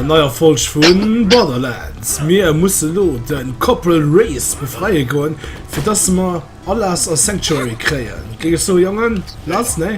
Neier Folsch vun Borderlands Mir musse lo den Koppel Race befreie goen, fir datt mer Palas a Sanctuary kréien. Géi ech sou jongen? Lass, nee?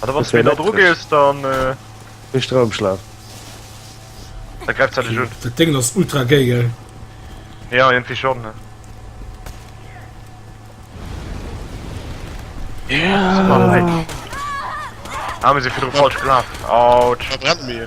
An da wann du méi no dru gees, dann. Méi Stroumschlaf. Da gräift se dech un. Dat Déngen ass ultra gay, gell? Ja, iergendwéi schonn. Ah, mir si virdru falsch gelaf. Autsch! Verbrennt mir!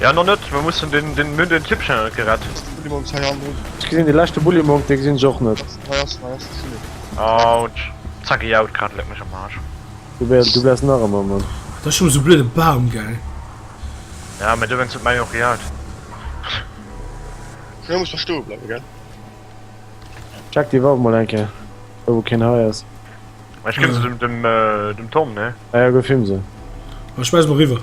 Ja no net mer mussen den den mir den typ schnell gerett gesinn de leschte bulli monk de gesinn och net haut zacki haut grad leck mech am marsch du wärst du wärst nach ëmmer man da schon so blöde baum gell ja mir du wennst mei och gejaagt jo muss verstoe bleiwe gell check die waff mol enke do wo keen hei ass ech ginn se dem dem tom ne ja ja go film se ech schmeiss mol riwwer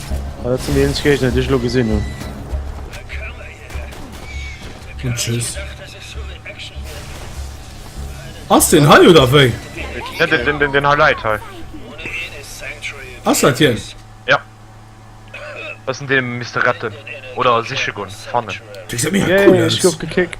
Ah, dat sinn déi eenzeg Géigner, déi ech elo gesinn hunn. Und tschüss. Ass den hei oder wéi? Ja, den, den, den, den Highlight hei. Ass dat hien? Ja. Das sind den Mr. Retten. Oder siche gun, fannen. Déi se mega cool aus. Yay, ech gouf gekickt.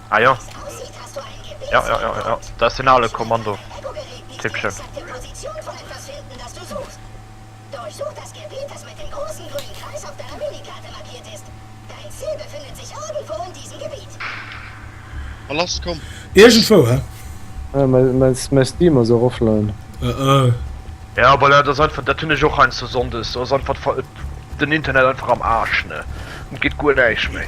Ah jo. Jo, jo, jo, jo. Da ass deen ale Kommando-Typchen. Wa lass, komm! Iergendwou, he? Mäin, mäin Steam ass och offline. Oh oh. Ja voilà, dat ass einfach, dat hunn ech och heiansdo Sonndes, do ass einfach den Internet einfach am Aarsch, ne, et geet guer näischt méi.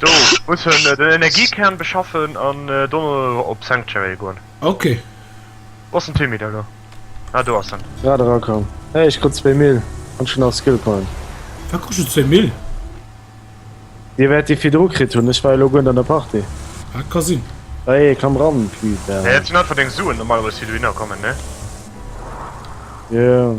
Do muss en den Energiekern beschaffen an dono op Sanctuary goen. Ok. Wou ass den Timmy da lo? Ah do ass en. Grad erakomm. Hey ech krut zwee Mil an ech hunn nach e Skill Point. Wou krus du zwee Mil? Dir wäert déi virdru kritt hunn, ech war elo guer net an der Partie. Ah et ka sinn. Bei ee kann ran putain. Nee dat sinn einfach deng Suen normalerweis déi dohinner kommen ne? Jo.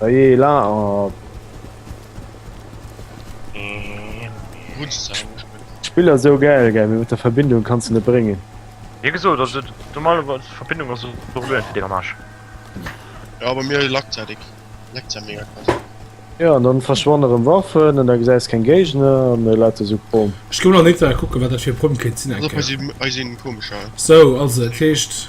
Ça y est, là, oh. Spiller so geil ge mit der Verbindung kannst du net bringen. Wie geso dat se normale wat Verbindung as Problem fir de am Arsch. Ja aber mir lackzeitig leckt ja mega krass. Ja an dann verschwonneren Waffen an da gesäis kein Géigner an la so Pom. Ech koum nach net kucke wat dat fir Pom kéint sinn. So also dat heescht.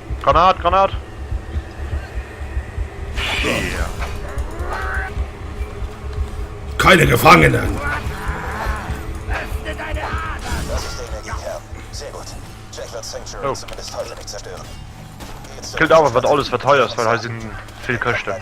Granat, Granat! Keine Gefangenen! Oh. Killt awer wat alles wat hei ass, well hei sinn vill Këschten.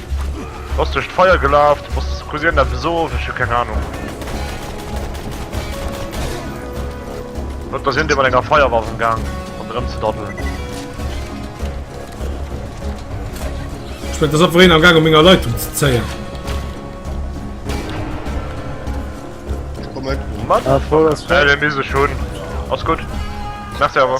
Bass duerch d'Feier gelaf, du bass Cousine dat beso, ech hu keng Ahnung. Huet da sinn dee mat enger Feierwaff am Gang an erëm ze daddelen. Ech fënnt ass opween am Gang op menger Leitung ze zéien. Ech komme. Mat ah, voll, voll. Äh, mir mise schon. Ass gut. Merci aber.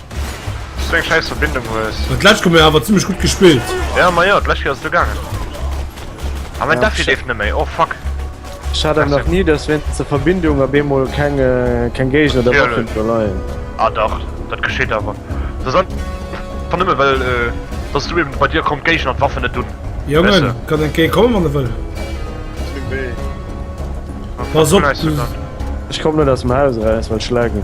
Dass du eng scheiss Verbindung hues. Dat läscht komm mir awer zimmlech gutt gespillt. Ja ma jo, dat läscht Kéier ass du gaangen. Ah mein Defi leeft net méi, oh fuck. Ech hat awer nach ni, dass wéinst der Verbindung op eemol keng keng Géigner oder Waffen do leien. Ah dach, dat geschitt awer. Dat ass einfach nëmme well dass du eben, bei dir kommen d'Géigner an d'Waffen net un. Jongen, kann en Kéier kommen wann e wëll. Pass op, du. Ech komm net aus dem Haus eraus well ech laggen.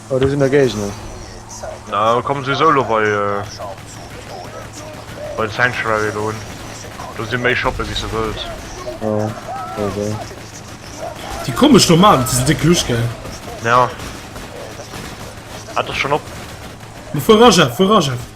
Oh, do sinn der Géigner. Na, da komme se souwisou elo bei, bei de Sanctuary do un. Do si méi Shoppe wéi s de wëlls. Oh, okay. Déi komesch Nomaden, se sinn déck lusch, gell? Ja. Hat dech schonn op. Fuer, Rajaf, fuer, Rajaf!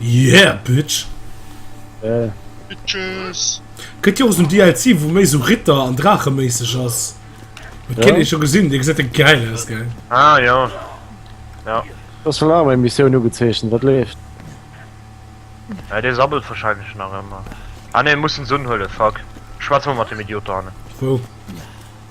Yeah bitch! Bitches! Kënnt jo och esou DLC wou méi esou Ritter an Draache méisseg ass. Dat kinnt ee scho gesinn, dee gesäit e gäil aus gell? Ah jo. Jo. Ass scho laang meng Missioun ugezeechent, wat leeft? Ja dee sammelt wahrscheinlech nach ëmmer. Ah nee, muss den Sun huelen, fuck. Schwätz mol mat dem Idiot dohannen. Wou?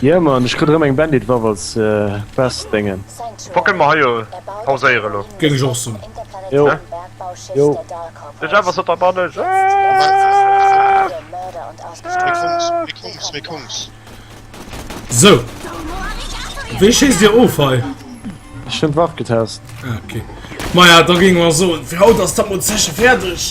Ja man, ech kritt erëm eng Bandit Waff als Quest Dengen. Boah kënne mer hei jo pauséieren elo? Géing ech och soen. Jo. Jo. Den Jeff ass net am Bann, ech Jeff! Sou. Wéi schéisst Dir of hei? Ech hunn d'Waff getest. Ah ok. Maja, da géinge mer soen, fir haut ass dat mol zeche fäerdeg.